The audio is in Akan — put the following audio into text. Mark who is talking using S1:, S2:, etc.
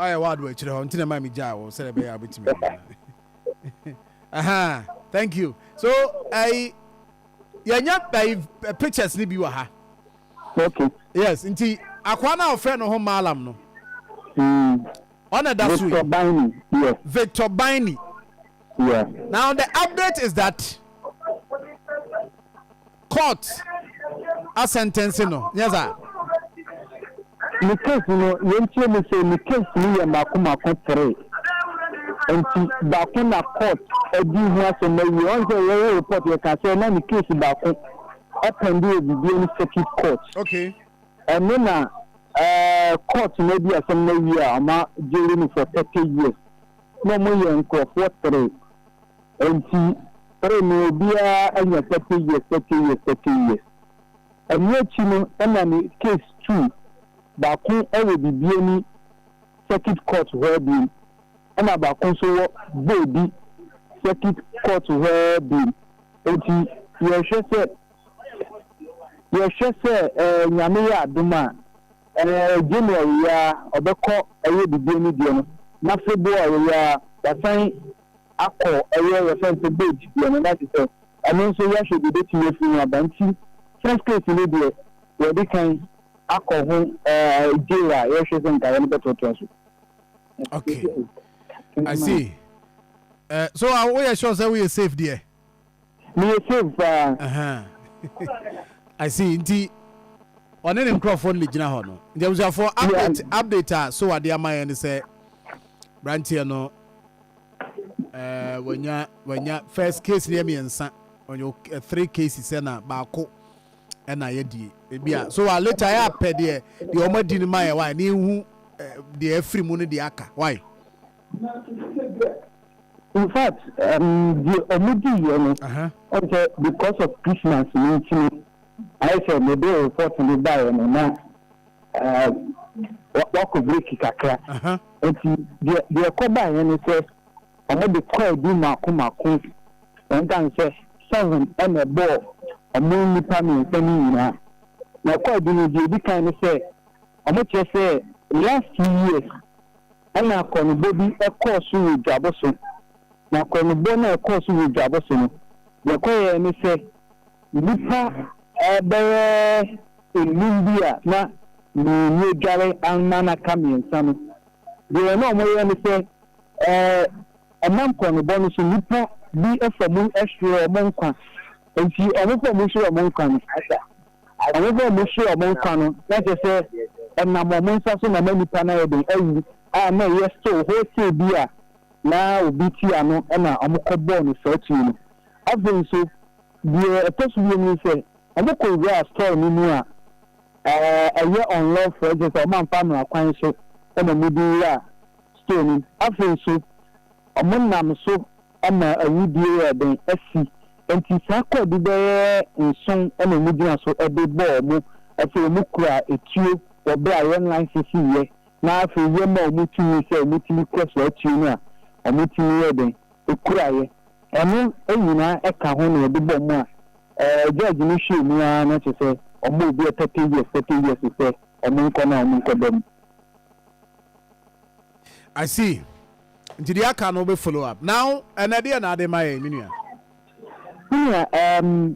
S1: ayɛ wɔ ado akyire hɔ nti na ɛma mi gyaa wɔ sɛdeɛ bɛyɛ a wobɛtumi aha thank you so ɛyi yɛnya ɛyi pictures ni bi wɔ ha okay
S2: yes nti
S1: akwaa no a wɔfrɛ no ho maalam no hmm. ɔna da so Victor Biny yes
S2: Victor Biny yes now the
S1: update is that Court asɛntɛnse no, nyɛ saa?
S2: Me case no, nea nti ne sɛ me case no yɛ mako mako three, nti baako na court adi ho asɛm awie. Ɔn sɛ yɛ wo report yɛ ka sɛ na ne case baako ɛpɛnde wɔ bibia ne circuit court. Okay.
S1: Ɛno na
S2: ɛɛ court no adi asɛm no awie a ɔma jail no for thirty years na ɔmo yɛ nkorɔfoɔ three. Enti bere no obiara anya pɛtɛyɛ pɛtɛyɛ pɛtɛyɛ. Ɛno akyi no na ne case tu baako wɔ Bibiani Circuit Court hɔ biom ɛna baako nso wɔ Boadi Circuit Court hɔ biom. Enti yɛhwɛ sɛ yɛhwɛ sɛ Nyame yɛ adom a January yi ara ɔbɛkɔ ɛyɛ Bibiani deɛ no na February yi ara wasan akɔ ɛyɛ yɛfrɛ no sɛ gauge deɛ no na te sɛ ɛno nso yɛhwɛ deɛ ɛbɛtumi afiri ho aba nti first case no deɛ yɛde kan akɔ ho ɛɛ jail a yɛhwɛ sɛ nkaeɛ no bɛtoatoa so.
S1: Okay, I see. Uh, so uh, woyɛ sure sɛ woyɛ safe deɛ? Meyɛ safe
S2: paa. Ahaa
S1: I see nti ɔne ne nkorɔfoɔ no de gyina hɔ no nti abusuafoɔ update update a so wade ama yɛn ne sɛ branteɛ no ɛɛ eh, wanya wanya first case no yɛ mmiɛnsa ɔnyɛ eh, three cases ɛna baako ɛna yɛ die ebi a so wa later yɛ apɛ deɛ deɛ wɔn adi no ma yɛ wa ne ehu eh, deɛ afiri mu no deɛ aka why
S2: Infact deɛ ɔmo dii yɛ no ɔn sɛ because of Christmas no nti no ayɛ sɛ me de report no baeɛ no na wakɔ break kakra nti deɛ ɛkɔ baeɛ ne sɛ ɔmo de kɔɔ adu mako mako ɛnkan sɛ seven ɛna ɛbɔɔ ɔmo nnipa mmiɛnsa no nyinaa na ɛkɔ adu no deɛ edi kan ne sɛ ɔmo kyerɛ sɛ last two years Ɛnna akɔnnɔbɔ bi kɔɔ so wɔ dwabɔ so, na akɔnnɔbɔ no a ɛkɔɔ so wɔ dwabɔ so no, deɛ ɛkɔyɛɛ ne sɛ, nnipa bɛyɛ nnum bi a na mmienu adware ama no aka mmiɛnsa no, deɛ na wɔyɛ ne sɛ, ɛnam kɔnnɔbɔ no so, nnipa bi fa mu hwere wɔn nkwa. Enti wɔfa mu hwere wɔn nkwa no. Wɔn sɛ wɔhwe wɔn nkwa no, na kyerɛ sɛ ɛnam wɔn nsa so na na nnipa no ayɛ dɛn awu, a na ɛyɛ stow hotee bi a na obi te ano na wɔkɔbɔɔ no saa tuo no. Afei nso, deɛ ɛtɔ so bio ne sɛ, wɔkɔwuraa store no mu a ɛyɛ unlawful, ɛkyerɛ sɛ wɔamfa mmara kwan so na wɔde wuraa store no mu. Afei nso, wɔnam so ama awudie yɛɛ dɛn asi. Enti saa kwaadu bɛyɛ nson na ɔmo gyina so de bɔ ɔmo. Afei ɔmo kura atuo wɔ berɛ a yɛn license yɛ na afei yɛ ma ɔmo tumi sɛ ɔmo tumi kura saa atuo no a ɔmo tumi yɛ dɛn kura yɛ. Ɛno nyinaa ka ho na yɛde bɔ ɔmo a ɛɛ judge no hwɛɛ mu ara na kyerɛ sɛ ɔma obi a thirty years thirty years sɛ ɔmo nkɔ na ɔmo nkɔ da mu.
S1: I see. Nti deɛ aka no wobɛ follow up. Now ɛnɛ deɛ na ade ma yɛn me nua? Me nua um